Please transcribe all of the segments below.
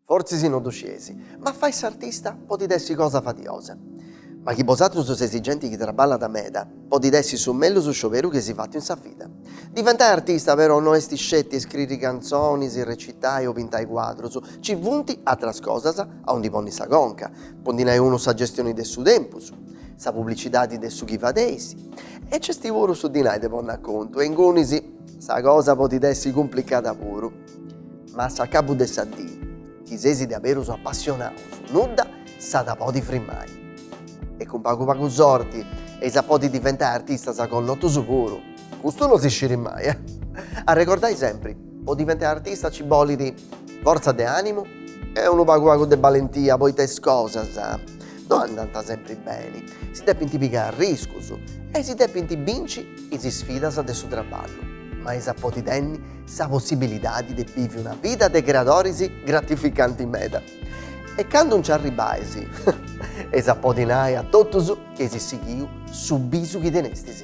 Fortzis no ddu scieis, ma fai s'artista podit essi cosa fadiosa. Ma chi bosatrus seis genti chi traballat meda, podit essi su mellus scioberu chi eis fatu in sa vida. Diventai artista però no est sceti iscriri cantzonis, recitai o pintai cuadrus, ci funt atras cosas aundi ponni sa conca. Po ndi nai unu sa gestioni de su tempus, sa publicidadi de su chi fadeis e c'est puru su dinai de ponni a contu e ingunis sa cosa podit essi cumplicada puru. Ma a s'acabu de sa dì chi seis diaberus apassionaus nudda si at a podi frimai. E cun pagu pagu sorti eis a podi diventai artistas connotus puru. Custu no si scirit mai eh. Arregordai sempri, po diventai artista ci bolit. Fortza de ànimu e unu pagu pagu de balentia poita is cosas no andant sempri beni, si depint pigai arriscus e si depint binci is isfidas de su traballu, ma eis a podi tenni sa possibilidadi de bivi una vida de creadoris gratificanti meda. E candu nci arribais, eis a podi nai a totus chi eis sighiu su bisu chi tenestis.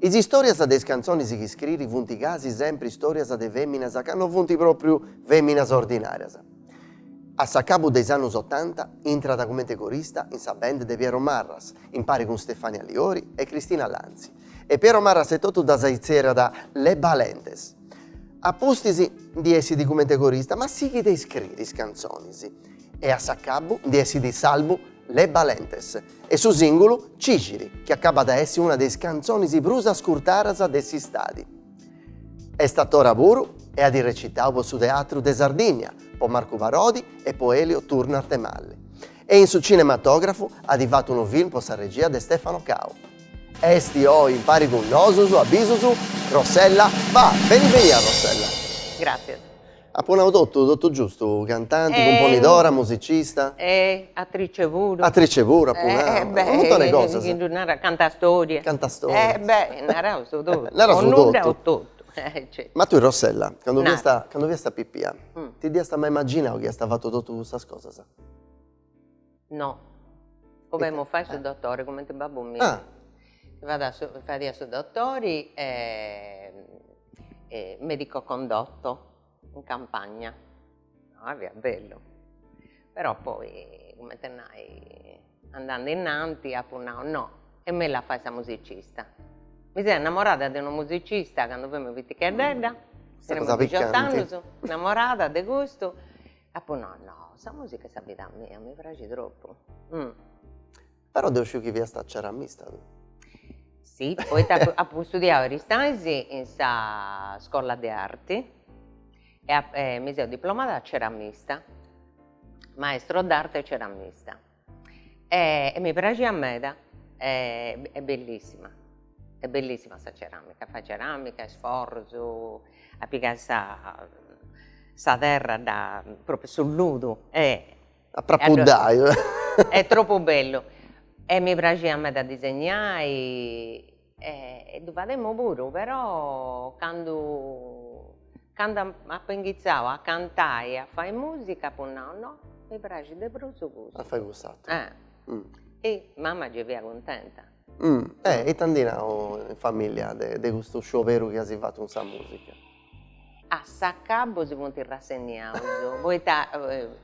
Is istòrias de is cantzonis chi scriit funt gasi sempri istòrias de fèminas ca no funt pròpriu fèminas ordinàrias. A s'acabu de is annus otanta intrat cumenti corista in sa band de Piero Marras, impari cun Stefania Liori e Cristina Lanzi, e Piero Marras etotu ddas itzerriat Le Balentes. A pustis ndi essit cumenti corista ma sighit a iscriri is cantzonis e a s'acabu ndi essit s'album Le Balentes. E su sìngulu Cixiri, chi acabat a essi una de is cantzonis prus ascurtadas de s'istadi. Est atora puru e at recitau po su Teatru de Sardìnnia, po Marcu Parodi e po Elio Turno Arthemalle, e in su cinematògrafu at fatu unu film po sa regia de Stefano Cao. Est oi impari cun nosus, a bisus, Rossella Faa, beni benia Rossella. Gràtzias. Apo nau totu, totu giustu, cantanti, cumponidora, musicista. E atrice puru. Atrice puru apu nau, unu muntone 'e cosas. Chi ddu naras, cantastoria. Cantastoria. E beh, narau su totu. Narau su totu. O nudda o totu, e. Ma tui Rossella, cando fiast. Nara. Cando fiast pipia, ti dd'iast mai imaginau chi iast fatu totu custas cosas? No, bolemu fai su dottori, cumenti babbu miu ah fadiat su dottori e medico condotto in campagna, ah fiat bellu, però poi cumenti nai andende innanti apu nau no, est mellus a fai sa musicista, mi seu innamorada de unu musicista cando femu piticheddedda, tenemu dixiott'annus, innamorada de custu Apu no no sa musica est sa vida mia mi praxit tropu mm. Però deu sciu chi fiast ceramista tui. Si, poita apu studiau Aristanis in sa scola de arti e mi seu diplomada ceramista, maestro d'arte e ceramista. E mi praxiat meda e est bellissima, est bellissima sa ceramica, fai ceramica, is forros, a pigai sa sa terra da propriu su ludu e a trapuddai est tropu bellu e mi praxiat meda a disegnai E ddu fademo puru però candu candu apo inghitzau a cantai e a fai musica apo nau no mi praxit de prus custu. A fai cuss'ateru. E mama gei fiat cuntenta. E ite ant nau in familia de custu scioberu chi asi fatu cun sa musica? A s'acabu si funt rassenniaus poita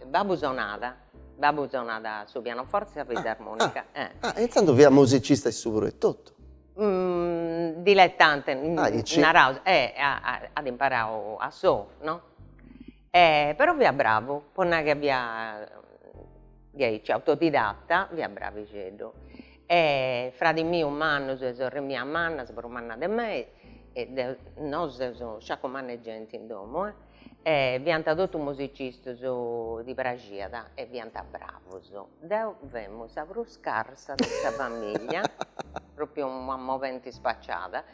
babbu sonat, babbu sonat su pianoforti e sa fisarmonica. Ah ah e intzandus fiat musicista issu puru etotu? Diletante, naraus, at imparau a solu no E però fiat bravu, po nai ca fiat diaici autodidatta fiat bravixeddu e fradis mius mannos e sorres mias mannas prus mannas de mei e deo nosu seus sciaccu manna 'e genti in domo e fiant totu musicistus ddis praxiat e fiant bravos, deo femu sa prus scarsa de sa familia propriu una moventi spaciada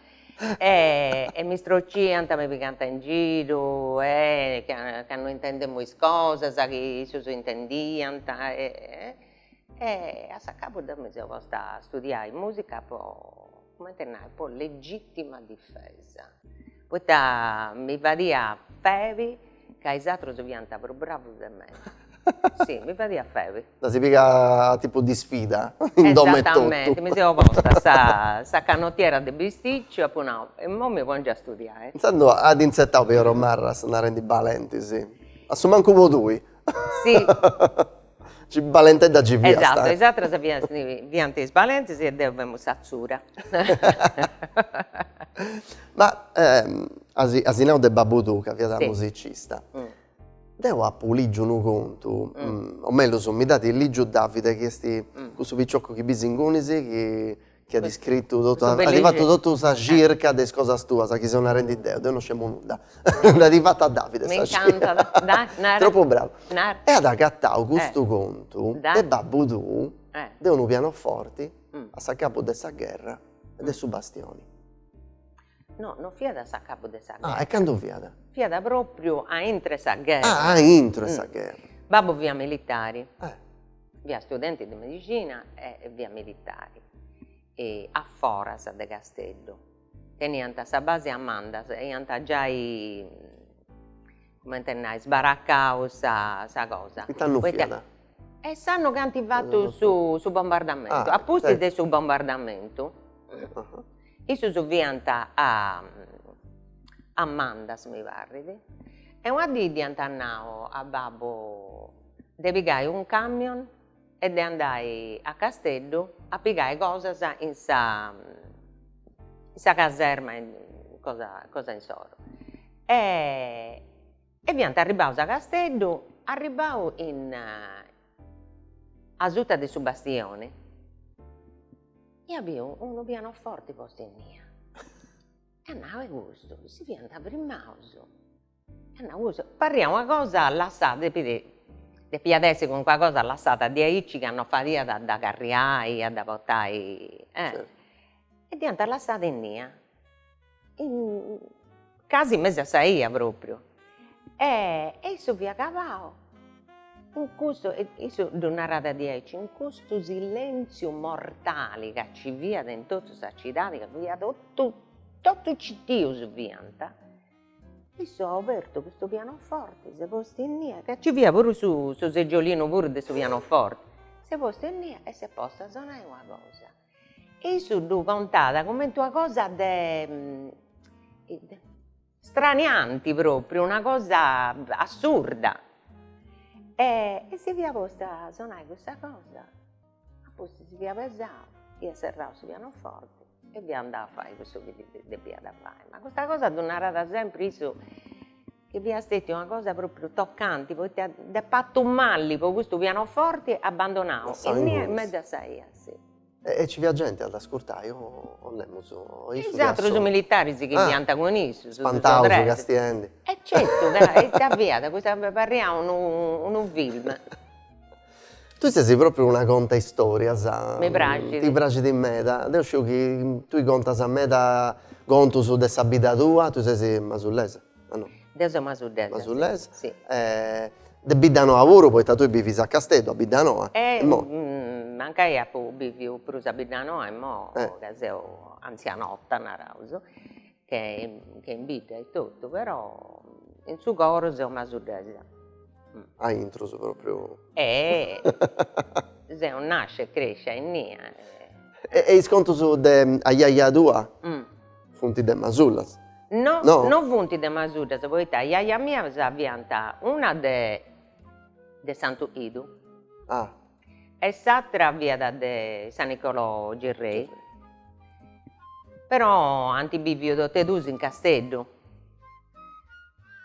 e mi strociant mi pigant in giru e ca no intendemo is cosas chi issos intendiant e a s'acabu deu mi seu posta a studiai musica po comente a nai po legittima difesa poita mi fadiat febi Ca is atrus fiant prus bravus de mei. Si, mi fadiat febi. Dd'asi pigada a tipu de isfida in domu e totu. Esatamenti, mi seu posta sa sa canotiera de bisticciu, apu nau, e imoi mi pongiu a studiai. Intzandus at intzetau Piero Marras narendi balentis, a su mancu po tui. Si Si, balentedda gei fiat. Esatto, is atras fiant is balentes e deo femu s'atzuda. Ma asi nau de babbu tuu ca fiat musicista, deo apu ligiu unu contu, o mellus mi dd'at ligiu Davide chi est cussu picioccu chi bis ingunis chi chi at scritu totu Su bellixi at fatu totu sa circa de is cosas tuas chi seu narendi deu, deu no scemu nudda nd'at fata Davide sa circa, m'incantat, dai nara, tropu bravu, nara, e at agatau custu contu de babbu tuu de unu pianoforti a s'acabu de sa gherra e de su bastioni. No, no fiat a s'acabu de sa gherra, e candu fiat? fiat propriu a intro 'e sa gherra, ah a intro 'e sa gherra, babbu fiat militari, Fia studenti de medixina e fia militari a foras de Casteddu. Teniant sa base a Mandas e iant giai, comente nai, sbaracau sa cosa. In it'annu fiat? E s'annu chi ant fatu su bombardamentu, a pustis de su bombardamentu, issus fiant a Mandas mi parrit e una dì dd'iant nau a babbu de pigai un camion e de andai a Casteddu a pigai cosas in sa in sa caserma cosa cosa insoro e e fiant arribbaus a Casteddu arribbau in asuta de su bastioni ia biu unu pianoforti postu innia e at nau e custu si fiant firmaus Parriat una cosa lassada, depit depiat essi calincuna cosa lassada diaici ca no fadiat a dda carriai, a dda portai e e dd'iant lassada innia casi in mesu a sa 'ia propriu e issu fiat acabau in custu e issu ddu narat diaici, in custu silentziu mortali ca ci fiat in totu sa cidadi ca fiat totu totu citius fiant Issu at obertu custu pianoforti, s'est postu innia, ca nci fiat puru su su seggiolinu puru de su pianoforti, s'est postu innia e s'est postu a sonai una cosa, e issu ddu contat cumenti una cosa de stranianti propriu, una cosa assurda e si fiat postu a sonai custa cosa Apustis si fia pesau, ia serrau su pianoforti e fia andau a fai cussu chi depiat fai, ma custa cosa ddu narat sempri issu chi fia stetiu una cosa propriu tocanti poita dd'est partu mali po custu pianoforti abandonau innia in mesu a sa 'ia si. E ci fiat genti a dd'ascurtai o o nemus o issu fiat solu. Is atrus militaris chi fiant cun issu su Spantaus castiendi. E certu ca ita fiat, custa parriat unu film Tui sesi propriu una contaistorias. Mi praxit. Ti praxit meda. Deu sciu chi tui contas meda contus de sa bidda tua, tui sesi masullesa, a no? Deu seu masullesa. Masullesa. Si. De Biddanoa puru, poita tui bivis a Casteddu, a Biddanoa. Mancai apu biviu prus a Biddanoa, imoi ca seu antzianotta, naraus. che che in bidda e totu però in su coro seu masullesa aintru propriu e seu nascia e crescia innia e e is contus de aiaia tua funt de masullas no no funt de masullas poita aiaias mias fiant una de de santu idu ah e s'attra fiat de San Nicolau Gerrei, però ant biviu totu e duus in Casteddu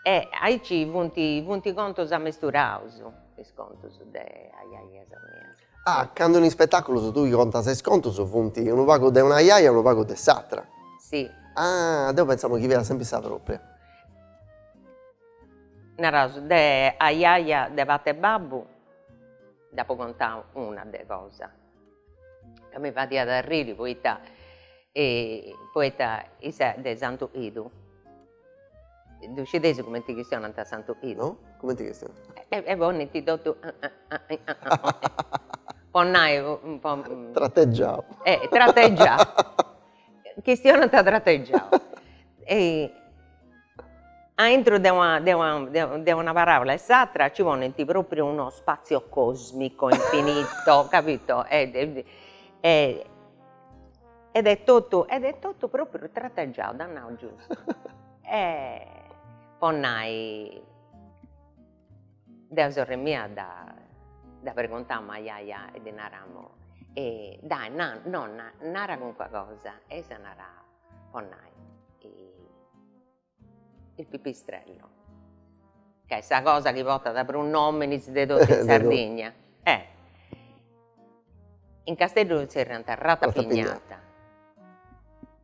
e aici funt funt contus amesturaus is contus de aiaias mias. Ah candu in ispetaculus tui contas is contus funt unu pagu de una aiaia e unu pagu de s'attra. Si. Ah deu pentzamu chi fiat sempri sa propria. Naraus de aiaia de part'e babbu Nd'apo contau una de cosa ca mi fadiat arriri poita poita issa de Santu 'Idu, ddu scideis cumenti chistionant Santu 'Idu? No, cumenti chistionant? E ponint totu po nai po trateggiau trateggiau Chistionant trategiau. Aintru de una de una de una de una paràula e s'atra nci ponint pròpriu uno spatzio còsmico infinito, capito, ed est totu ed est totu pròpriu trategiau, t'at nau giustu. Po nai Deu e sorri mia dda pregontamus a aiaia e ddi naramus dai nonna nara calincuna cosa e issa naràt po nai il pipistrello ca est sa cosa chi portat prus nominis de totu in Sardigna e in Casteddu zerriant rata pignata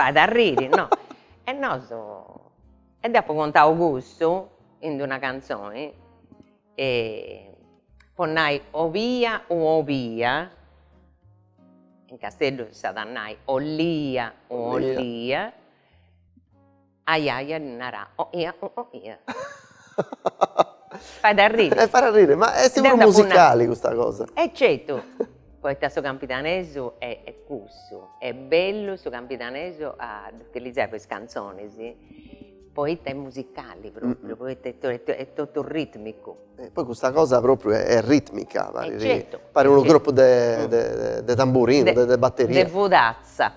Fait arriri no. E nosu e dd'apu contau custu in d'una cantzoni po nai obia u obia, in Casteddu s'at a nai ollia u ollia Ajaja ddi naràt oia oh oia. Fait arriri. E fait arriri, ma est puru musicali custa cosa. E certu, poita su campidanesu est cussu, est bellu su campidanesu a dd'utilizai po is cantzonis, poita est musicali propriu, poita est totu ritmicu. E poi custa cosa propriu est ritmica, parit unu gruppu de tamburinu, de batteria. De fudazza.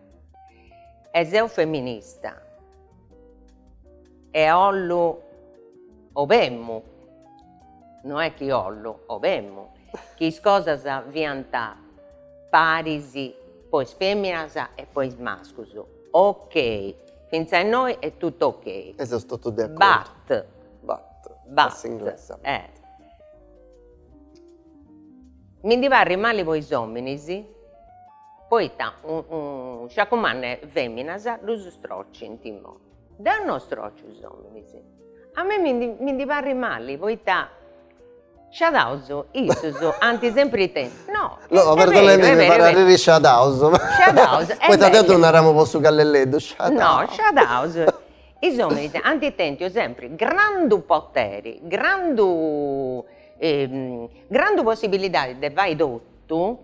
E seu feminista e 'ollu 'obemmu, no est chi 'ollu, 'obemmu chi is cosas fiant paris po is feminas e po is mascus, ok, fintzas innoi est totu ok. E seus totus de acordu. But, but, but, Mi ndi parrit mali po is ominis poita sciacumanna is feminas ddus strocint immoi. Deu no strociu is ominis. A mei mi ndi mi ndi parrit mali poita sciadaus issus ant sempri tempus. No No est beridadi mi ndi parrit a arriri sciadaus. Sciadaus e Poita deu ddu naramu po su callelleddu sciadau. No sciadaus is ominis ant tentu sempri grandu poteri grandu grandu possibilidadi de fai totu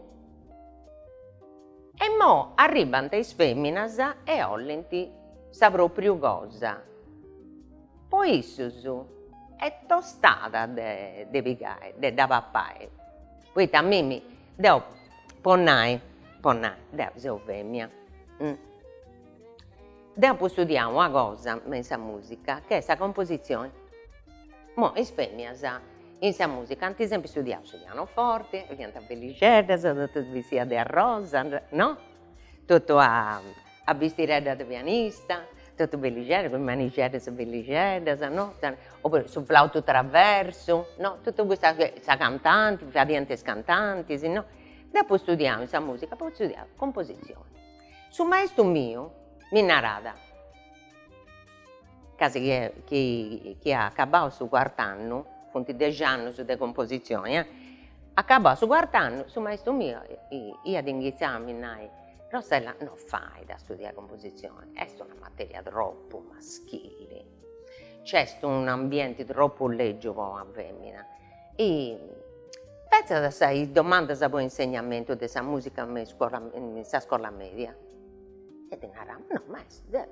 e mo arribant is feminas e 'ollint sa propriu cosa po issus est tostada de pigai de dda papai poita a mimi deu po nai po nai deu seu femina deu apu studiau una cosa ma in sa musica chi est sa composizioni Mo is femias in sa musica ant sempri studiau su pianoforti, fiant bellixeddas, totus bistidas de arrosa, no, totu a a bistireddas de pianista, totu bellixeddas cun is manixeddas bellixeddas, no, oppuru su flautu traversu, no, totu custa, sa cantanti, fadiant is cantantis, no, deu apu studiau in sa musica apu studiau composizioni, su maistu miu mi narat Casi chi apu acabau su cuart'annu, funt dex'annus de composizioni eh, acabau su cuart'annu su maistu miu iat inghitzau a mi nai, Rossella no fait a studiai composizioni, est una materia tropu maschili, nc'est un'ambienti tropu legiu po una femina, fetzat is domandas po insegnamentu de sa musica me in sa scola media. E ti narà, no ma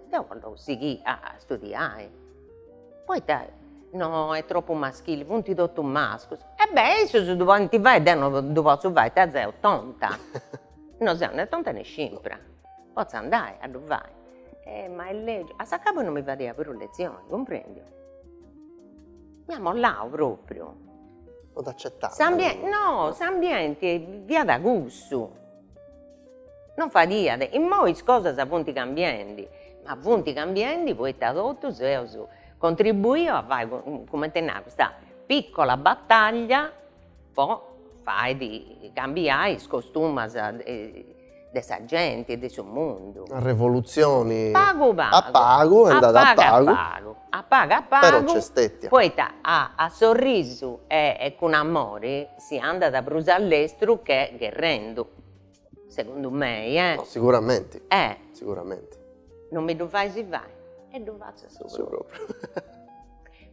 deu bollu sighiri a studiai, poita no est tropu maschili, funt totu mascus, e beh issus ddu podint fai e deu no ddu potzu fai, ita seu tonta, no seu né tonta né scimpra, potzu andai a ddu fai, e ma est lègiu, a s'acabbu non mi fadiat prus letzioni, cumprendiu, mi at mollau propriu, no, s'ambienti fiat cussu Non fadiat, immoi is cosas funt cambiendi, ma funt cambiendi poita totus eus contribuiu a fai cumenti nai custa piccola battaglia po fai cambiai is costumas de sa genti e de su mundu. Una revolutzioni pagu pagu a pagu est andada a pagu a pagu a pagu però nc'est stètia poita a sorrisu e cun amori Si andat prus a lestru che gherrendu, segundu mei, eh. No, siguramenti. Eh. Siguramenti. Non mi ddu fais fai e ddu fatzu a su propriu. Su propriu.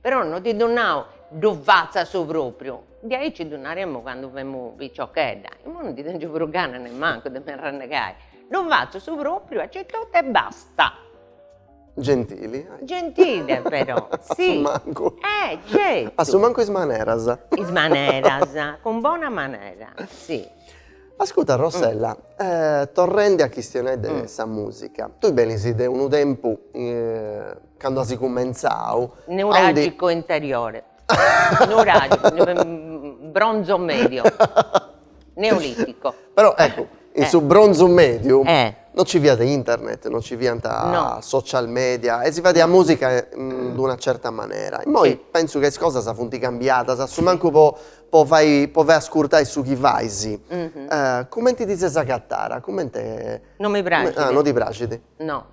Però non ti ddu nau, ddu fatzu a su propriu, diaici ddu naremu candu femu piciochedda, imoi non ndi tengiu prus gana nemmancu de mi arrannegai, ddu fatzu su propriu aici e totu e basta. Gentili. Gentile però, si. A su mancu. E certu. A su mancu is maneras. Is maneras, cun bona manera, si. Ascurta Rossella, torrendi a chistionai de sa musica, tui benis de unu tempus candu as cumentzau. Nuragico interiore. Nuragico, bronzo medio. Neolitico. Però ecco, in su bronzu mediu non ci fiat internet, non ci fiant social media e si fadiat musica in d'una certa manera. Immoi pensu ca is cosas funt cambiadas, a su mancu po po fai po fai ascurtai su chi fais. Cumenti ti ses agatara, cumenti. Non mi praxit. Ah, non ti praxit. No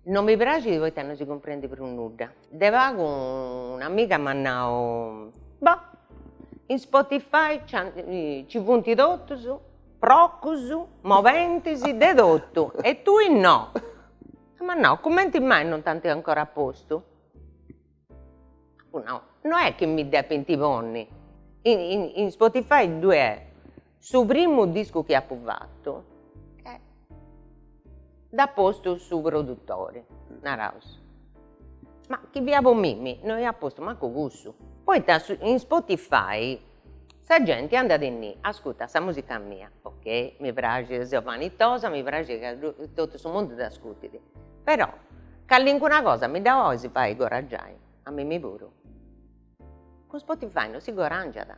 No mi praxit poita no si cumprendit prus nudda. De pagu un'amiga m'at nau, boh, in Spotify ci funt totus, procus, molentis, de totu e tui no. E m'at nau, cumenti mai non t'ant ancora postu? Apu nau, no est chi mi depint ponni, in Spotify ddue est Su primu discu chi apu fatu e dd'at postu su produtori, naraus, ma chi fia po mimi no iat postu mancu cussu. Poita in Spotify sa genti andat innì, ascurtat sa musica mia, ok, mi praxit, seu vanitosa, mi praxit ca totu su mundu dd'ascurtit, però calincuna cosa mi dda 'olis fai guadangiai a mimi puru? Cun Spotify no si guadangiat.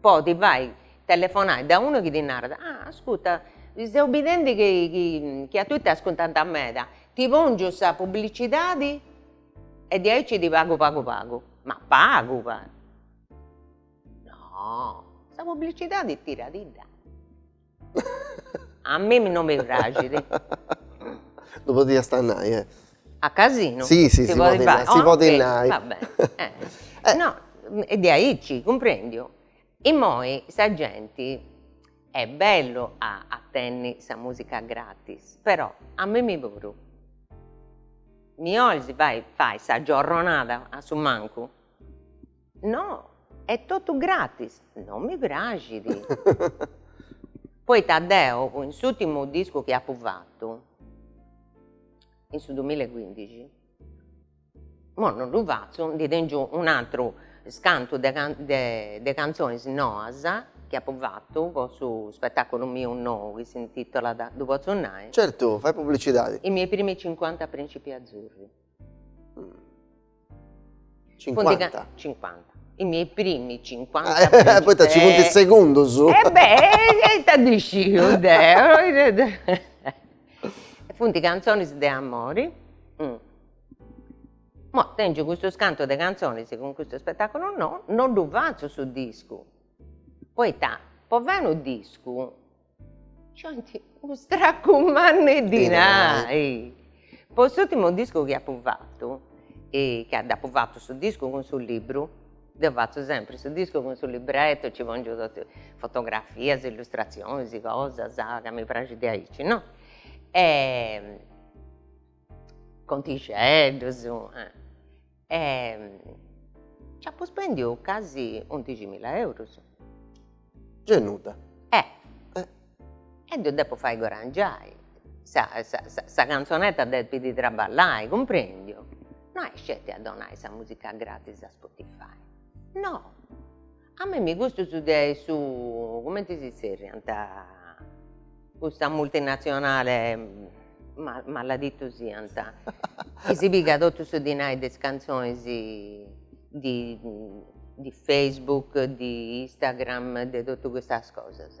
Po ti fai telefonai da unu chi ti narat, ah ascurta seu bidendi chi a tui t'ascurtant meda, ti pongiu sa publicidadi e diaici ti pagu pagu pagu, ma pagu pagu, no sa publicidadi tiradidda A mimi no mi praxit. Ddu podia nai e. A casinu? Si si si podit nai, si podit nai. Va bene no e diaici cumprendiu, immoi sa genti est bellu a a tenni sa musica gratis, però a mimi puru mi 'olis fai fai sa giorronada a su mancu No, est totu gratis. Non mi praxit. Poita deu cun s'ùrtimu discu chi apu fatu, in su dumilla e cuindixi, imoi non ddu fatzu, ndi tengiu un'aturu scantu de de cantzonis noas chi apu fatu po su spetaculu miu nou chi s'intitolat, ddu potzu nai? Certu, fai publicidadi. I miei primi cinquanta principi azzurri. Cincuanta. Cincuanta, i miei primi cincuanta e poita ci funt is segundus. E beh e ita ndi sciu deu funt cantzonis de amori, imoi tengiu custus cantu de cantzonis cun custu spetaculu nou, no ddu fatzu su discu, poita po fai unu discu Ci 'ont unu stracu mannu 'e dinai. Po s'ùrtimu discu chi apu fatu, ca dd'apu fatu su discu cun su libbru, deu fatzu sempri su discu cun su libretto, ci pongiu totu fotografias, illustratzionis, cosas ca mi praxit diaici no, contixeddus E c'apo spendiu casi undiximila eurus. Gei nudda. E e deu depo fai godangiai, sa sa sa canzonetta depit traballai, cumprendiu? No est sceti a donai sa musica gratis a Spotify, no A mimi custus de su, cumenti si zerriant, custa multinazionale, ma- maladitus siant, chi si pigat totu su dinai de is cantzonis di di Facebook, di Instagram, de totu custas cosas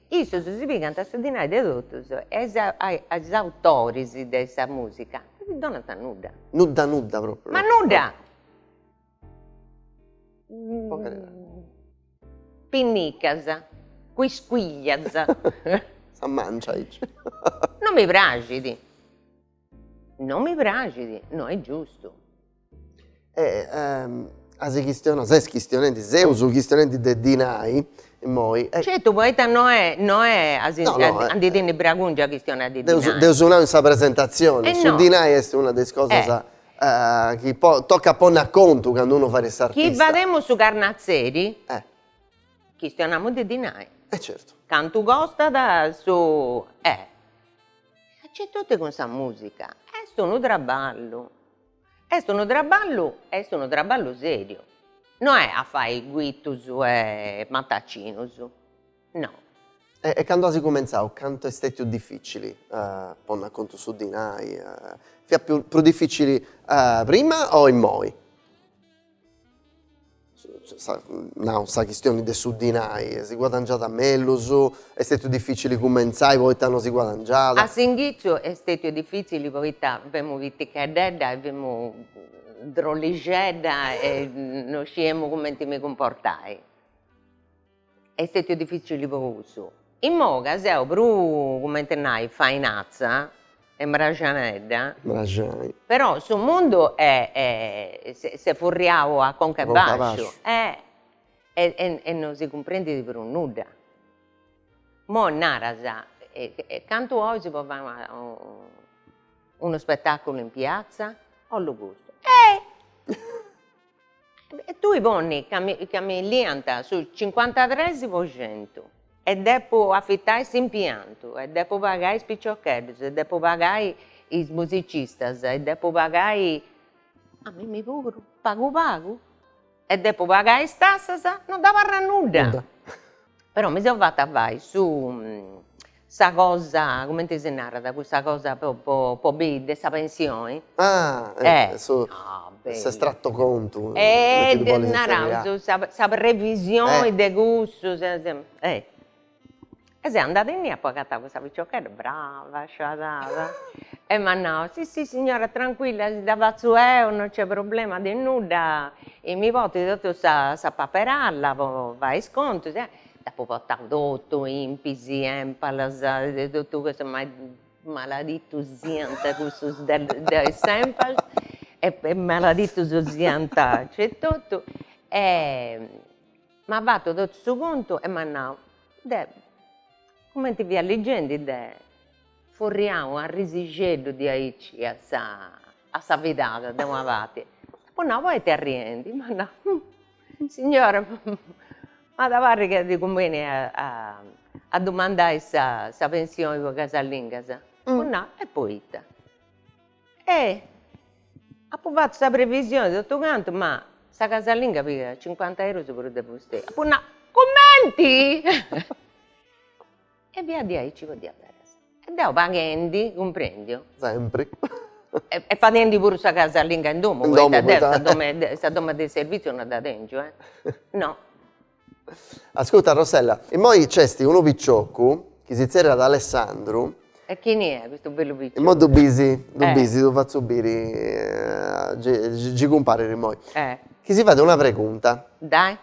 Issus si pigant su dinai de totus e a is a is autoris de sa musica no ddi donant nudda. Nudda nudda propriu. Ma nudda! Pinnicas, quisquiglias. Sa mancia aici. Non mi praxit. No mi praxit, no est giustu. E as chistionau, ses chistionendi, seus chistionendi de dinai immoi. Certu, poita no est, no est a si a ndi tenni bregungia a chistionai de dinai. Deu deu apu nau in sa presentazioni, su dinai est una de is cosas chi tocat ponni a contu candu unu fait s'artista. Chi fadeus su carnatzeri chistionamus de dinai. E certu. Cantu costat su Certu cun sa musica. Est unu traballu, est unu traballu e est unu traballu seriu, no est a fai guitus e matacinus, no. E candu as cumentzau cantu est stetiu dificili ponni a contu su dinai, fiat prus dificili prima o immoi? nau sa chistioni de su dinai, si guadangiat mellus, est stetiu dificili cumentzai poita no si guadangiat? A s'inghitziu est stetiu dificili poita femu piticheddedda e femu drollixedda e no sciemu cumenti mi cumportai Est stètiu dificili prus. Immoi ca seu prus, cumenti nai, fainatza e mraxanedda. Mraxai. Però su mundu s'est furriau a conca a bàsciu. E no si cumprendit prus nudda. Immoi naras, cantu 'ois po fai una unu spetàculu in piatza? Ollu custu. E tui ponni ca mi ca mi liant su cincuantatres po centu e depu afitai s'impiantu e depu pagai is piciocheddus e depu pagai is musicistas e depu pagai a mimmi puru pagu pagu e depu pagai is tassas, no dd'abarrat nudda. Però mi seu fata fai su sa cosa cumenti si narat cussa cosa po po po bi de sa pensioni ah su s'estratto contu e naraus sa sa previsioni de cussu sa sa e e seu andada innia apu agatau cussa piciochedda brava sciadada e m'at nau si si signora tranquilla si dda fatzu eu non c'è problema de nudda E mi portit totu sa sa paperalla po fai is contus e dd'apu portau totu, INPS, ENPALS e totu cussu ma maladitus siant cussus de de s'ENPALS e e maladitus siant aici e totu e m'at fatu totu su contu e m'at nau, deh, cumenti fia legendi deh, furriau u' arrisixeddu diaici a sa a sa vida de una parti, apo nau, poita arriendi, m'at nau, hm, signora, m'at a parri ca ddi cumbenit a dumandai sa pensioni po casalingas, apu nau, e poita, e apu fatu sa previsioni e totu cantu, ma sa casalinga pigat cincuanta eurus prus de fustei, apu nau, cumenti E fiat diaici po diaberas. E deo paghendi, cumprendiu. Sempri. E fadendi puru sa casalinga in domu, poita deo sa domu de sa domu de servitziu non dda tengiu e no. Ascurta Rossella, immoi nc'est unu piciocu chi si tzerriat Alessandru. E chini est custu bellu piciocu. Immoi ddu bisi, ddu bisi, ddu fatzu biri, gei cumparit immoi. Chi si fait una pregunta. Dai.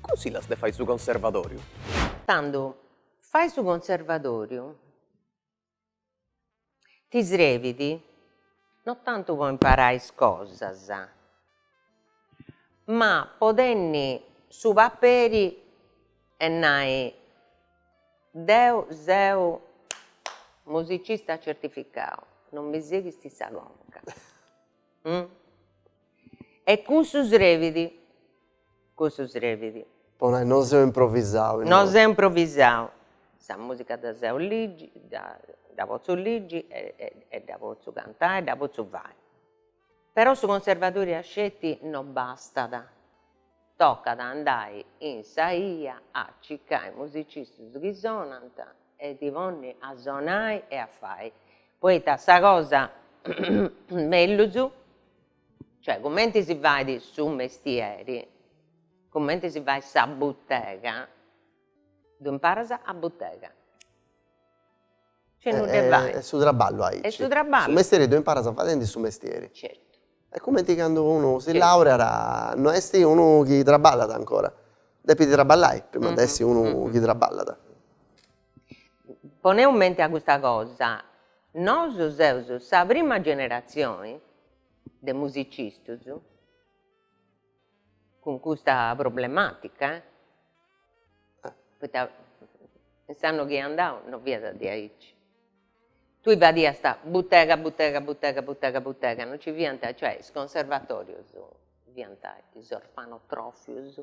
Cunsillas de fai su conservadoriu? Tandu fai su conservadoriu ti srebit no tantu po imparai is cosas ma po tenni su paperi e nai deu seu musicista certificau, non mi seghist sa conca e cussu srebit cussu srebit. Po nai no seu improvisau. No seu improvisau. Sa musica dda sciu ligi, dda potzu ligi e dda potzu cantai e dda potzu fai. Però su conservatoriu a sceti no bastat, tocat a andai in sa 'ia a circai musicistus chi sonant e ti ponni a sonai e a fai, poita sa cosa mellus Cioè cumenti si fait su mestieri, cumenti si fait sa butega, ddu imparas a butega. Cioè non ddu fait. Est su traballu aici. Est su traballu. Su mestieri ddu imparas fadendi su mestieri. Certu. Est cumenti candu unu si laureat, no est unu chi traballat ancora, depit traballai prima de essi unu chi traballat. poneus in menti a custa cosa, nosu seus sa prima generatzioni de musicistus cun custa problematica e poita in s'antighidadi non fiat diaici, tui fadiast butega butega butega butega butega, non ci fiant, cioè is conservatorius fiant is orfanotrofius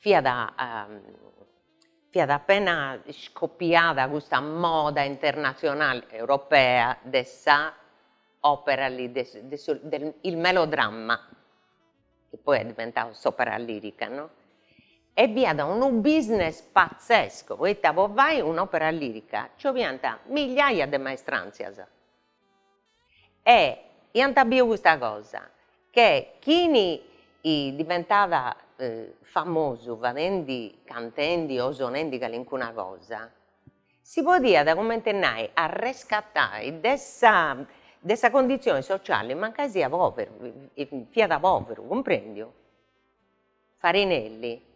Fiat fiat appena iscopiada custa moda internatzionale europea de sa opera il melodramma, chi poi est diventadu s'opera lirica no, e fiat unu business pazzesco, poita po fai un'opera lirica nci 'oliant migliaia de maestranzias, E iant biu custa cosa, che chini diventat famosu fadendi, cantendi o sonendi calincuna cosa, si podiat comente nai arrescatai de sa de sa condizioni sociali mancai siat poveru, fiat poveru, cumprendiu? Farinelli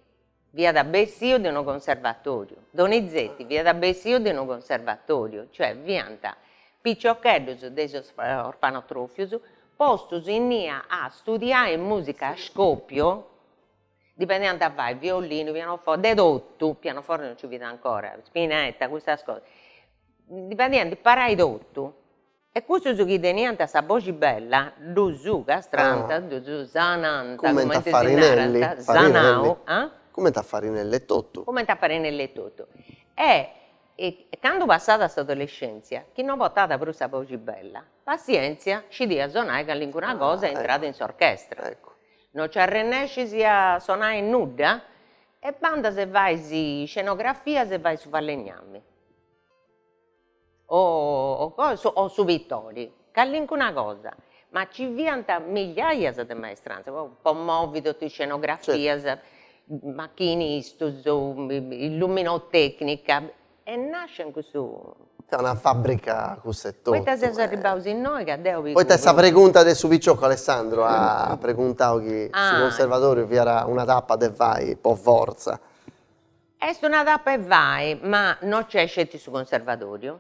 fiat bessiu de unu conservatoriu, Donizetti fiat bessiu de unu conservatoriu, cioè fiant piciocheddus de is orfanotrofius postus innia a studiai musica a scopiu, dipendaiant a fai violinu, pianoforte, de totu, pianoforte non nci fiat ancora, spinetta, custas cosas, dipendaiant a imparai totu, E cussus chi teniant sa boxi bella ddus castrànt, ddus sanànt, cumenti si narat, sanau, ah? Cumenti a Farinelli etotu. Cumenti a Farinelli etotu. E candu passada s'adolescèntzia, chi no portàt prus sa boxi bella, passièntzia, scidiat sonai calincuna cosa e intràt in s'orchestra. No nci arrennescis a sonai nudda? E bandas e fais scenografias e fais su falegnami. o o su pittori, calincuna cosa, ma ci fiant migliaias de maestranzas, po po movi totu is scenografias, machinistus, illuminotecnica, e nascit custu. Fiat una fabrica cussa e totu. Poita seus arribaus innoi ca deu pigu. Poita est sa pregunta de su picioccu Alessandro at preguntau chi su conservatoriu fiat una tappa de fai po fortza. Est una tappa 'e fai, ma no nc'est sceti su conservatoriu,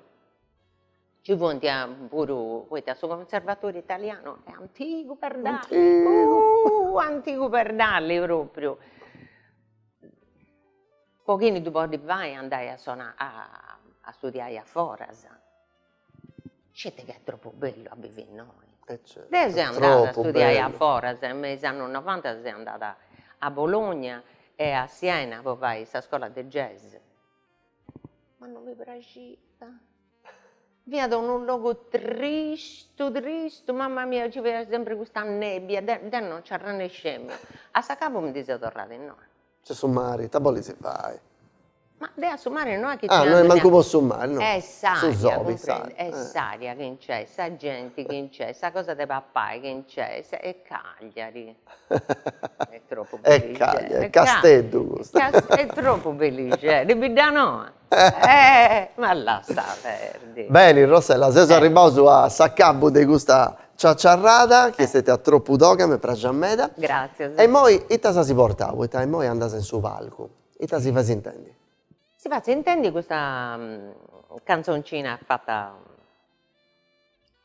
nci funt puru, poita su conservatoriu italianu est antigu perdali, eh antigu perdali propriu, po chini ddu podit fai andai a sonai a studiai a foras Sceti chi est troppu bellu a bivi innoi. E certu. Deu seu andada a studiai a foras, me is annus novantas seu andada a Bologna e a Siena po fai sa scola de jazz, ma non mi praxiat, fiat unu logu tristu tristu, mamma mia nci fiat sempri custa nebbia, deu deu non nci arrennescemu, a s'acabu mi ndi seu torrada innoi C'est su mari, ita bolis fai? Ma deu a su mari no est chi. Ah no est mancu po su mari no. Est s'aria cumprendi, est s'aria chi nc'est, sa genti chi nc'est, sa cosa de papai chi nc'est, e Cagliari est tropu bellixedda. E Cagliari, Casteddu custu. Est tropu bellixedda, Biddanoa. Eh ma lassa perdi. Beni Rossella seus arribaus a s'acabbu de custa ciaciarrada chi est stetia tropu toga m'est praxia meda. Gratzias. E immoi ita si as portau poita immoi andas in su palcu, ita si fais intendi? Si fatzu intendi custa cantzoncina fata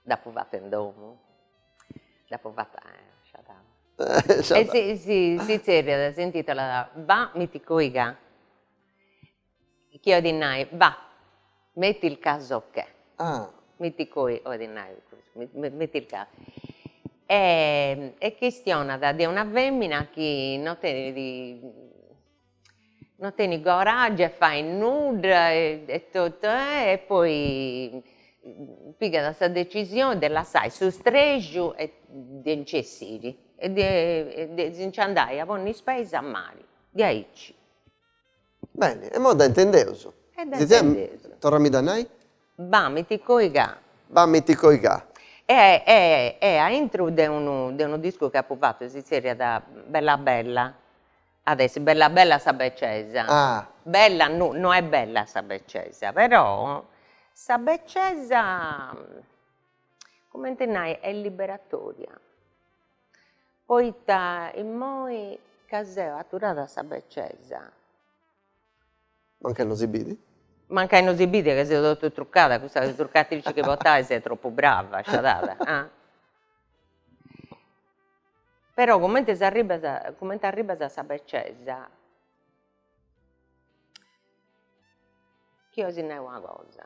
dd'apu fata in domu, dd'apu fata e si zerriat, s'intitolat, ba miti coi ca Chi 'olit nai, bah, metti il caso che. Ah. Mitti coi 'olit nai, metti il ca. E chistionat de una femina chi no tenit, no tenit coraggiu 'e fai nudda e totu e e poi pigat sa decisioni de lassai su streju e de nci essiri e de si nci andai a ponni is peis a mari de aici. Beni, immoi dda intendeus. E dda intendeus. Torra-mi-dda a nai. B'amit coi ca. B'amit coi ca. E a intro de unu de unu discu chi apu fatu si zerriat Bella bella at essi bella bella sa beccesa. Ah. Bella no no est bella sa beccesa, però sa beccesa cumenti nai est liberatoria. Poita immoi ca seu aturada a sa becesa. Mancai no si bit. Mancai no si bit ca seu totu trucada, custa trucatrici chi portais est tropu brava, sciadada. Però cumenti s'arribbas, cumenti arribbas a sa becesa, chi 'olis nai una cosa,